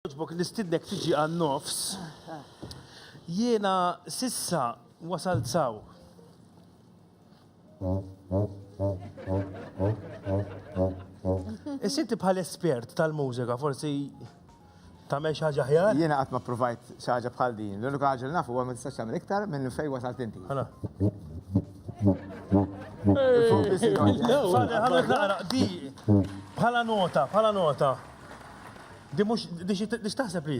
Jogħġbok nistidnek tiġi għan-nofs. Jiena sissa wasalt saw. Is-sitti bħal espert tal-mużika, forsi tagħmel xi ħaġa ħjar? Jiena qatt ma provajt xi ħaġa bħal din. L-unika ħaġa li nafu huwa ma tistax tagħmel iktar minn fejn wasalt inti. Ħala. Ħala naqra di bħala nota, bħala nota. Di mhux di xi di x'taħseb li?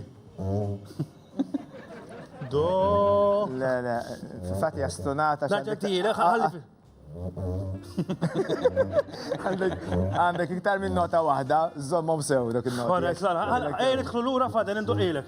Do. Le, le, fil-fatt hija stunata x'għandek- Naġġettilek, ħalli- għandek għandek iktar minn nota waħda, żommhom sew dak il-nota. Korrekt, la, la, għal- ejn idħlu lura fadel induqilek.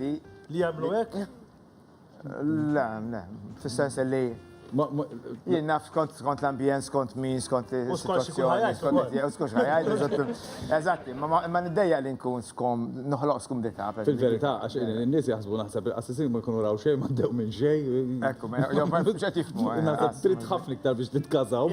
li. Li jagħmlu hekk? Le, le, fis-sens li Jien naf skont skont l-ambjent, skont min, skont il-situazzjoni, skont skont ħajajt. Eżatti, ma niddejja li nkun skom, noħloq skom dita. Fil-verità, għax n-nies jaħsbu naħseb il-qassisin ma jkunu raw xejn, ma ddew minn xejn. Ekku, ma jgħu ma jgħu xejn tifmu. Trid ħafna iktar biex titkazaw.